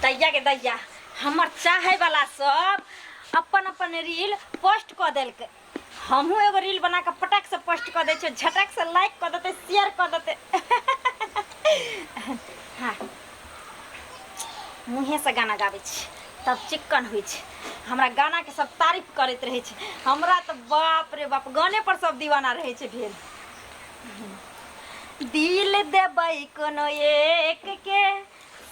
दैया के दैया हमर चाहे वाला सब अपन अपन रील पोस्ट क देलके हमहू एगो रील बना के पटक से पोस्ट क दे छे झटक से लाइक क देते शेयर क देते हाँ मुँहे से गाना गाबै छी तब चिक्कन होइ छै हमरा गाना के सब तारीफ करैत रहै छै हमरा तऽ बाप रे बाप गाने पर सब दीवाना रहै छै भेल दिल देबै कोनो एक के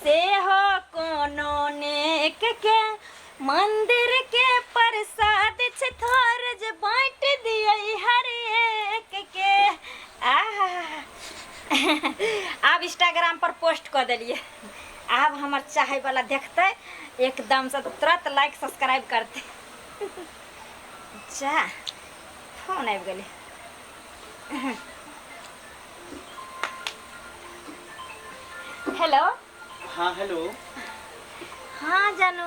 से हो कोनो नेक के मंदिर के प्रसाद छे थोर जे बांट दिए हर एक के आहा आब इंस्टाग्राम पर पोस्ट कर दिलिए आब हमर चाहे वाला देखते एकदम से तुरंत लाइक सब्सक्राइब करते जा फोन आबि गेलै हेलो हाँ हेलो हाँ जानू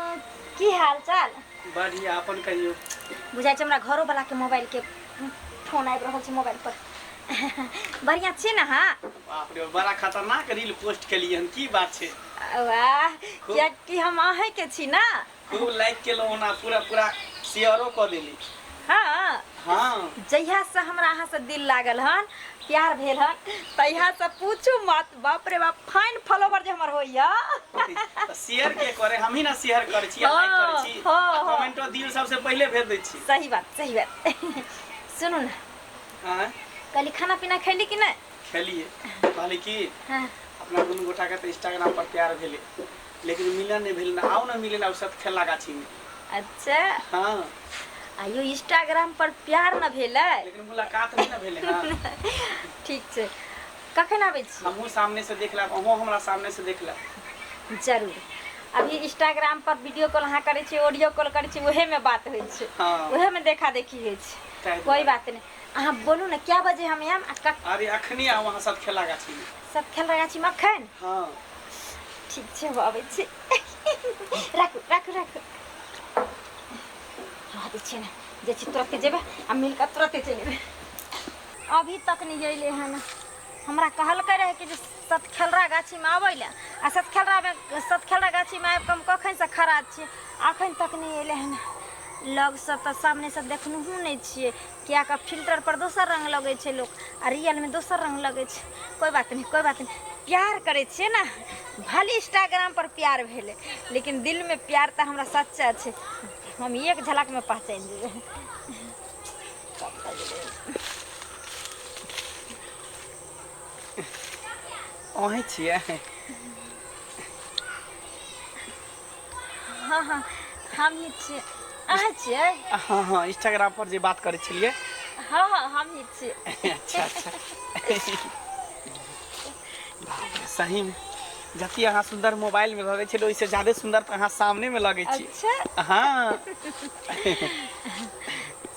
की हाल चाल बढ़िया अपन कहियो बुझाइ छै हमरा घरो वाला के मोबाइल के फोन आबि रहल छै मोबाइल पर बढ़िया छी ना हाँ बाप रे बड़ा खतरनाक रील पोस्ट केलिए हन की बात छै वाह खूब। कियाकि हम अहें के छी ना खूब लाइक केलहुँ हन आ पूरा पूरा शेयरो कऽ देली हाँ हँ जहिया से हमरा अहाँ से दिल लागल हन प्यार भेल हन तहिया से पूछू मत बाप रे बाप फाइन फॉलोवर जे हमर होइया तऽ शेयर के करे हमही ने शेयर करै छी लाइक करै छी हँ, हँ, हँ। कमेंटो दिल सबसे पहिले भेज दै छी सही बात सही बात सुनू ना हँ कहली खाना पीना खैली कि नहीं खेलिए कहली कि हाँ अपना दुनू गोटाके तऽ इंस्टाग्राम पर प्यार भेलै लेकिन मिलन नहि भेल आउ ने मिले लए सब खेला गाछी में अच्छा हाँ आइयो इंस्टाग्राम पर प्यार न भेल लेकिन मुलाकात नहीं न भेल हाँ। ठीक छै कखन आबै छी हमहूँ सामने से देख लेब अहूँ हमरा सामने से देख लेब जरूर अभी इंस्टाग्राम पर वीडियो कॉल अहाँ करै छी ऑडियो कॉल करै छी उहे में बात होइ छै हाँ। उहे में देखा देखी होइ छै कोई बात नहीं अहाँ बोलू ने क्या बजे हम आयब अरे अखनी आउ अहाँ सब खेला गाछी में सब खेल रहा छी मक्खन हां ठीक छै बाबे छी राखू राखू राखू रह दे छी ना जे छी तुरंत जेबे आ मिल के तुरंत चल जेबे अभी तक नहीं अइले हन हमरा कहल के रहे कि जे सतखेलरा गाछी में आबै ले आ सतखेलरा में सतखेलरा गाछी में आबि के हम कखन से खड़ा छी अखन तक नहीं अइले हन लग से तऽ सामने से देखनहु नहीं छियै किएक कि फिल्टर पर दोसर रङ्ग लगै छै लोक आ रियलमे दोसर रङ्ग लगै छै कोइ बात नहि कोइ बात नहि प्यार करै छियै ने भले इंस्टाग्राम पर प्यार भेलै लेकिन दिलमे प्यार तऽ हमरा सच्चा छै हम एक झलकमे पहचानि जेबै अहीं छियै हँ हँ हमही छियै अहाँ छियै हँ हँ इंस्टाग्राम पर जे बात करै छलियै हँ हँ हमही छियै अच्छा अच्छा सही में जते अहाँ सुन्दर मोबाइल में लगे छल ओहिसे ज्यादे सुन्दर तऽ अहाँ सामने में लगे छी अच्छा हँ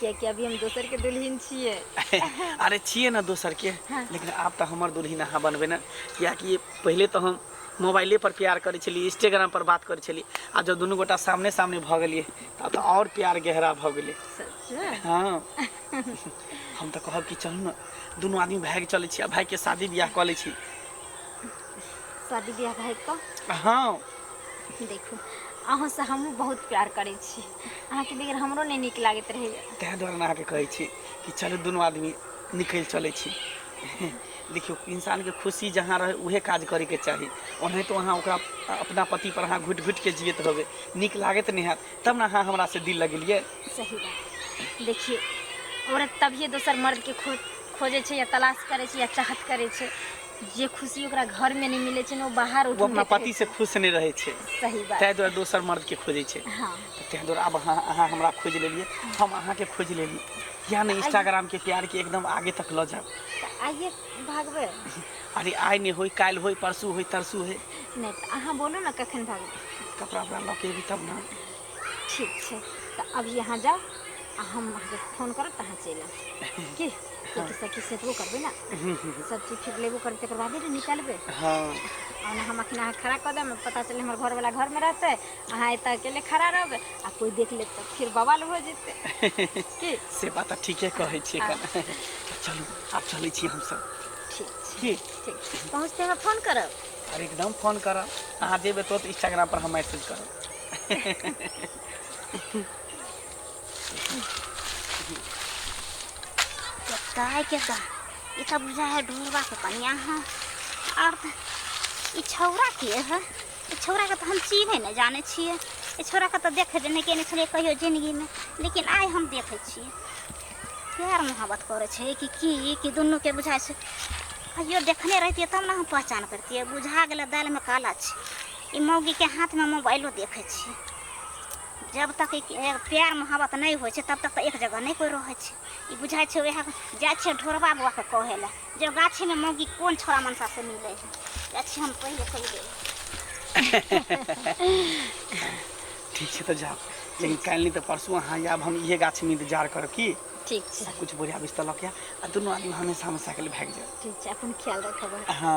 कियाकि अभी हम दोसर के दुल्हिन छियै अरे छियै ने दोसर के हँ। लेकिन आब तऽ हमर दुल्हिन अहाँ बनबै ने कियाकि पहिले तऽ हम मोबाइले पर प्यार करै छलियै इंस्टाग्राम पर बात करै छलियै आ जब दुनू गोटा सामने सामने भऽ गेलियै तब तऽ आओर प्यार गहरा भऽ गेलै सच में? हँ हम तऽ कहब कि चलू ने दुनू आदमी भागि चलै छी आ भाइके शादी बियाह कऽ लै छी शादी बियाह भए कऽ हँ देखू अहूँसँ हमहूँ बहुत प्यार करै छी अहाँके बगैर हमरो नहि नीक लागैत रहैए ताहि दुआरे हम अहाँके कहै छी कि चलू दुनू आदमी निकलि चलै छी देखियौ इंसानके खुशी जहाँ रहै उहे काज करैके चाही ओनाहितो अहाँ ओकरा अपना पतिपर अहाँ घुटि घुटिके जियत रहबै नीक लागैत नहि हैत तब ने अहाँ हमरासँ दिल लगेलियै सही बात देखिए औरत तभिए दोसर मर्दके खो खोजै छै या तलाश करै छै या चाहत करै छै जे खुशी ओकरा घर में नहि मिलै छै ने ओ बाहर ओ अपना पति से खुश नहि रहै छै सही बात ताहि दुआरे दोसर मर्द के खोजै छै हँ तऽ ताहि दुआरे आब अहाँ अहाँ हमरा खोजि लेलियै हम अहाँके खोजि लेली किया नहि इंस्टाग्राम के प्यार के एकदम आगे तक लऽ जायब तऽ आइए भागबै अरे आइ नहि होय काल्हि होय परसू होय तरसू होय नहि तऽ अहाँ बोलू ने कखन भागबै कपड़ा उपड़ा लऽ के एबी तब ने ठीक छै तऽ अभी अहाँ जाउ आ हम अहाँके फोन करब तऽ अहाँ चलि आउ की किएकि सभचीज सेटबो करबै ने सभचीज फिर लेबो करबै तकर बादे ने निकलबै हँ आ ओना हम अखन अहाँ खड़ा कऽ देब पता चले हमर घरवला घरमे रहतै अहाँ एतऽ अकेले खड़ा रहबै आ कोइ देख लेत तऽ फिर बवाल हो जेतै की से बात तऽ ठीके कहै छियै हँ। कन तऽ चलू आब चलै छी हमसभ ठीक छै की ठीक पहुँचते हमरा फोन करब अरे एकदम फोन करब अहाँ जेबै तुरंत इंस्टाग्राम पर हम मैसेज करब गाय के दा ई त बुझा है ढोरवा के कनिया है और त ई छौरा के है ई छौरा के त हम चीन्हे न जाने छिए ई छौरा के त देखे देने के नहीं छलिए कहियो जिंदगी में लेकिन आइ हम देखे छिए प्यार मोहब्बत करे छै कि की कि दुनू के बुझाइ छै कहियो देखने रहतिए तब ने हम पहचान करतिए बुझा गेलै दालिमे काला छै ई मौगीके हाथमे मोबाइलो देखै छी जब तक प्यार मोहब्बत नहि होइ छै तब तक तऽ एक जगह नहि कोइ रहै छै ई बुझाइ छै वएह जाइ छिए ढोरबा बौआके कहै लए जे गाछीमे मौगी कोन छोड़ा मनसासँ मिलै हइ जाइ छी हम पहिले पहिले ठीक छै तऽ जाउ लेकिन काल्हि नहि तऽ परसू अहाँ आयब हम इहे गाछीमे इन्तजार करब की ठीक छै किछु बोरिया बिस्तर लऽ के आ दुनू आदमी हमेशा हमेशाके लिए भागि जायब ठीक छै अपन ख्याल रखब हँ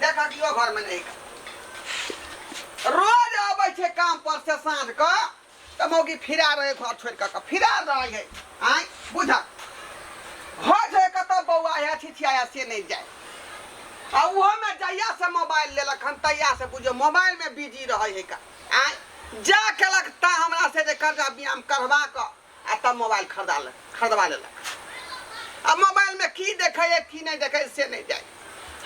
देखा दियो घर में नहीं रोज आबै छै काम पर से साँझ के तऽ मौगी फिरा रहे घर छोड़ के के फिरा रहे है आय बुझा घर छोड़ के तब बौआ है छिछिया से नहीं जाए आ उहो में जहिया से मोबाइल लेलक हन तहिया से बुझो मोबाइल में बिजी रहे है का आय जा केलक ता हमरा से जे कर्जा ब्यायाम करवा के आ तब मोबाइल खरीदा ले खरीदवा लेलक आ मोबाइल में की देखे है की नहीं देखे है, से नहीं जाए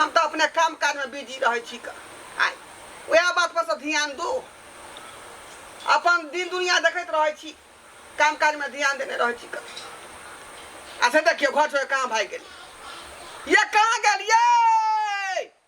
हम तो अपने काम काज में बिजी रहे छी क। आय वह बात पर से ध्यान दो अपन दिन दुनिया देखत रहे छी काम काज में ध्यान देने रहे छी क। आ से देखियो घर छोड़ कहाँ भाग गेली ये कहाँ गेलिए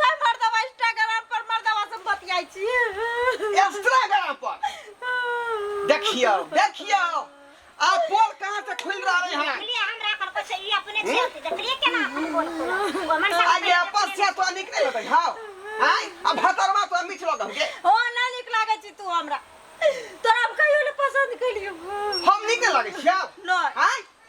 छै मर्दवा इंस्टाग्राम पर मर्दवा से बतियाई छी इंस्टाग्राम पर देखियो देखियो आ पोल कहां से खुल रहा है यहाँ देखलिए हमरा पर कुछ ई अपने छे देखलिए केना अपन बोल बोला ओ मन से आगे अपन से तो निक नहीं लगै हां हाय अब भतरवा तो मिठ लगल के ओ ना निक लागे छी तू हमरा तोरा हम कहियो ने पसंद कलियो हम निक लगै छियो नहीं हाय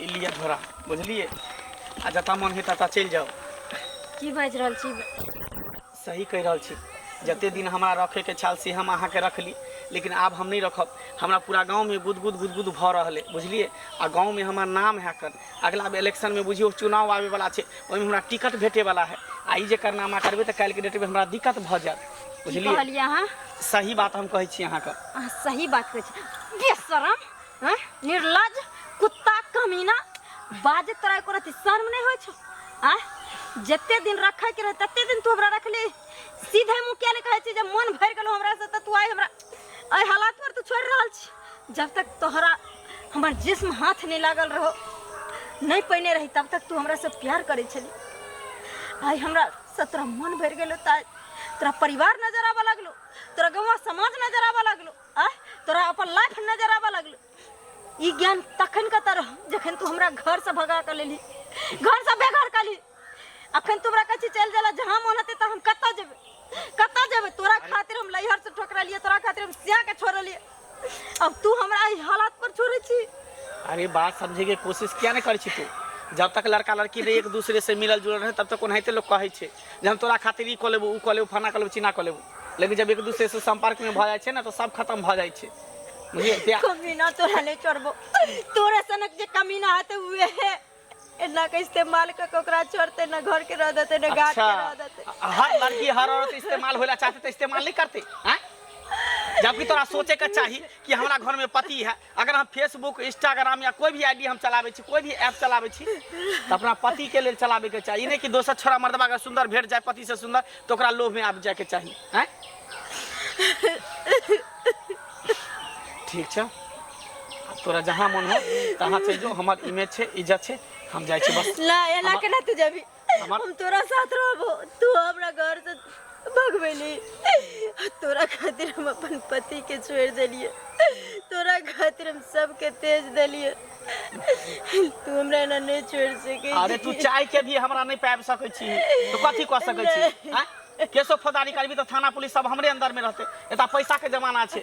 ई लिअ झोरा बुझलियै आ जतऽ मन हेतै ततऽ चलि जाउ की बाजि रहल छी सही कहि रहल छी जते दिन हमरा रखैके छल से हम अहाँके रखली लेकिन आब हम नहि रखब हमरा पूरा गाँवमे गुदगुद गुदगुद भऽ रहल अइ बुझलियै आ गाँवमे हमर नाम है कर अगिला बेर इलेक्शनमे बुझियौ चुनाव आबैवला छै ओहिमे हमरा टिकट भेटैवला है आ ई जे करनामा करबै तऽ काल्हिके डेटमे हमरा दिक्कत भऽ जायत की बुझलियै कहलियै अहाँ सही बात हम कहै छी अहाँके अहाँ सही बात कहै छी बेशरम हैं निर्लज कुत्ता कमीना बाजे तोरा एको रति शर्म नहीं होय छो आ जते दिन रखे के रहे तते दिन तू हमरा रखली सीधे मुंह किया नहीं कहे छी जे मन भर गेलो हमरा से त तू आइ हमरा एहि हालात पर तू छोड़ रहल छी जब तक तोहरा हमर जिस्म हाथ नहीं लागल रहो नहीं पहिने रही तब तक तू हमरा से प्यार करे छली आइ हमरा से तोरा मन भर गेलो त आइ तोरा परिवार नजर आबऽ लगलो तोरा गौवा समाज नजर आबऽ लगलो आय तोरा अपन लाइफ नजर आबऽ लगलौ ई ज्ञान तखन कतऽ रह जखन तू हमरा घर से भगा कऽ लेली घर से बेघर कली अखन तू हमरा कहै छी चलि जाला जहाँ मोन हेतै तऽ हम कतऽ जेबै कतऽ जेबै तोरा खातिर हम लैहर से ठोकरलियै तोरा खातिर हम सिया के छोड़लियै अब तू हमरा एहि हालात पर छोड़ै छी अरे बात समझे के कोशिश किया नहीं करे छी तू जब तक लड़का लड़की रहे एक दूसरे से मिलल जुलल रहे तब तक ओनाहिते लोग कहे छे जे हम तोरा खातिर ई कऽ लेबू ओ कऽ लेबू फना कऽ लेबू चिना कऽ लेबू लेकिन जब एक दूसरे से संपर्क में भऽ जाइ छै ने तो सब खत्म भऽ जाइ छै बुझलियै प्यार कमीना तोरा नहीं छोड़बो तोरा सनक जे कमीना हते उहे है एना के इस्तेमाल क के ओकरा छोड़ते न घर के रह देते न गाट के रह देते अच्छा हर लड़की हर औरत इस्तेमाल होला चाहते तो इस्तेमाल नहीं करते हैं जबकि तोरा सोचे के चाही कि हमरा घर में पति है अगर हम फेसबुक इंस्टाग्राम या कोई भी आईडी हम चलावे छी कोई भी ऐप चलावे छी तो अपना पति के लिए चलावे के चाहिए नहीं कि दोसर छोरा मर्दबा अगर सुंदर भेट जाए पति से सुंदर तो ओकरा लोभ में आबि जाए के चाहिए हैं ठीक छै आब तोरा जहाँ मन हो तहाँ चलि जो हमर इमेज छै इज्जत छै हम जाइ छी बस ना एना केना तू जबी हमार हम तोरा साथ रहबो तू हमरा घर से भगवेली तोरा खातिर हम अपन पति के छोड़ देलिए तोरा खातिर हम सबके तेज देलिए तू हमरा एना नहीं छोड़ सके अरे तू चाय के भी हमरा नहीं पाबि सकै छी तो कथी कऽ सकै छी आँय? केसो फौदारी करबी तऽ थाना पुलिस सब हमरे अंदर में रहते एतऽ पैसा के जमाना छै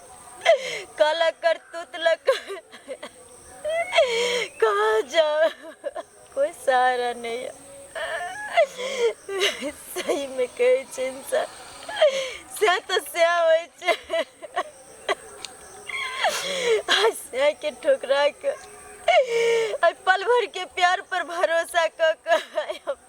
काला करतूत लग कहा जाओ कोई सहारा नहीं है सही में कहे छे इंसान सह तो सह होय छे आज सह के ठोकरा के आज पल भर के प्यार पर भरोसा क के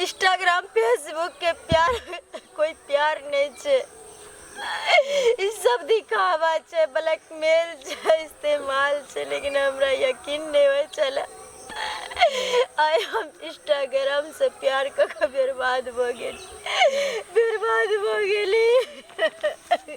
इंस्टाग्राम फेसबुक के प्यार कोई प्यार नहीं छे ई सब दिखावा छे ब्लैकमेल छे इस्तेमाल छे लेकिन हमरा यकीन नहीं हो चला आय हम इंस्टाग्राम से प्यार क के बर्बाद भ गेली बर्बाद भ गेली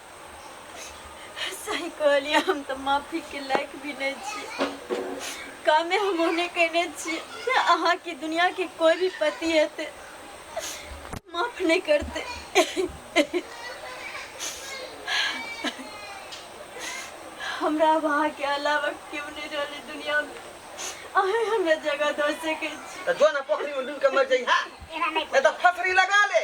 सही कहलियै हम तऽ माफीके लायक भी नहि छी कामे हम ओहने कयने छी अहाँके दुनियाके कोइ भी पति हेतै माफ नहि करतै हमरा आब अहाँके अलावा केओ नहि रहलै दुनियामे अहें हमरा जगह दऽ सकै छी तऽ जो ना पोखरी में डूब के मर जाई हा एना नहीं ए तो फसरी लगा ले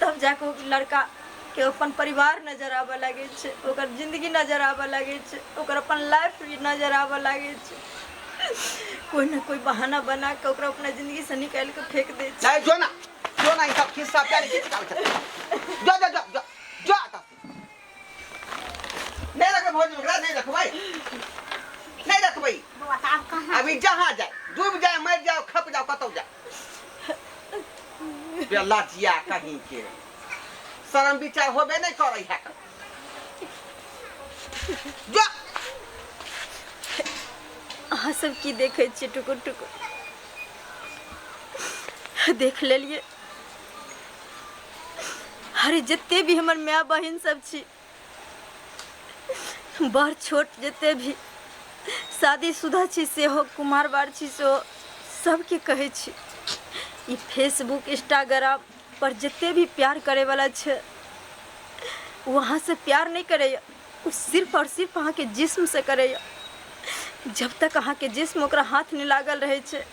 तब जाके ओ लड़का के अपन परिवार नजर आबऽ लागे छै ओकर जिंदगी नजर आबऽ लागे छै ओकर अपन लाइफ भी नजर आबऽ लागे छै कोई ना कोई बहाना बना के ओकरा अपना जिंदगी से निकाल के फेंक दे छै जो ना जो ना ई सब खिस्सा प्यार के निकाल के जो जो जो जो जो नहीं रखे भौज ओकरा नहीं रखबै नहीं रखबै बौआ तऽ आब कहाँ अभी जहाँ जाए डूब जाए मर जाओ खप जाओ कतौ जाए बेला जिया कहीं के शर्म विचार होबे नहीं करे है जो अहाँ सब की देखै छियै टुकुर टुकुर देख लेलियै अरे जते भी हमर माय बहिन सब छी बड़ छोट जते भी शादीशुदा छी सेहो कुमार बार छी सेहो सबके कहै छी ई फेसबुक इंस्टाग्राम पर जते भी प्यार करे वाला छै वहाँ से प्यार नहीं करे ओ सिर्फ आओर सिर्फ अहाँके जिस्मसँ करैए जब तक अहाँके जिस्म ओकरा हाथ नहि लागल रहै छै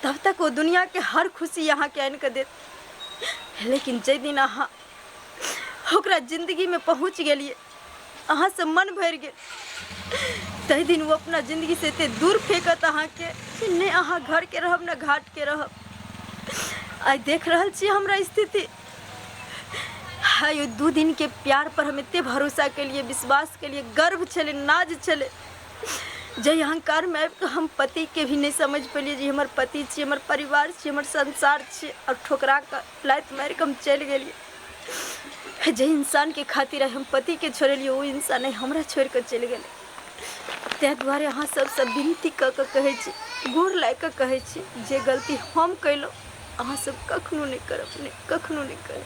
तब तक ओ दुनियाके हर खुशी अहाँके आनि कऽ देत लेकिन जाहि दिन अहाँ ओकरा जिन्दगीमे पहुँच गेलियै अहाँसँ मन भरि गेल ताहि दिन ओ अपना जिन्दगीसँ एते दूर फेंकत अहाँके कि नहि अहाँ घरके रहब ने घाटके रहब आइ देख रहल छी हमरा स्थिति आयु दू दिन के प्यार पर हम एते भरोसा के लिए विश्वास के लिए गर्व छले नाज छले जय अहंकार में आबि कऽ हम पति के भी नहीं समझ पेलिए जे हमर पति छी हमर परिवार छी हमर संसार छी और ठोकरा के लात मार के हम चल गेलिए जे इंसान के खातिर आइ हम पति के छोड़लिए वो इंसान आइ हमरा छोड़ के चल गेले ताहि दुआरे अहाँ सबसँ विनती कऽ कऽ कहै छी गोर लागि कऽ कहै छी जे गलती हम कयलहुँ अहाँ सब कखनो नहि करब नहि कखनो नहि करब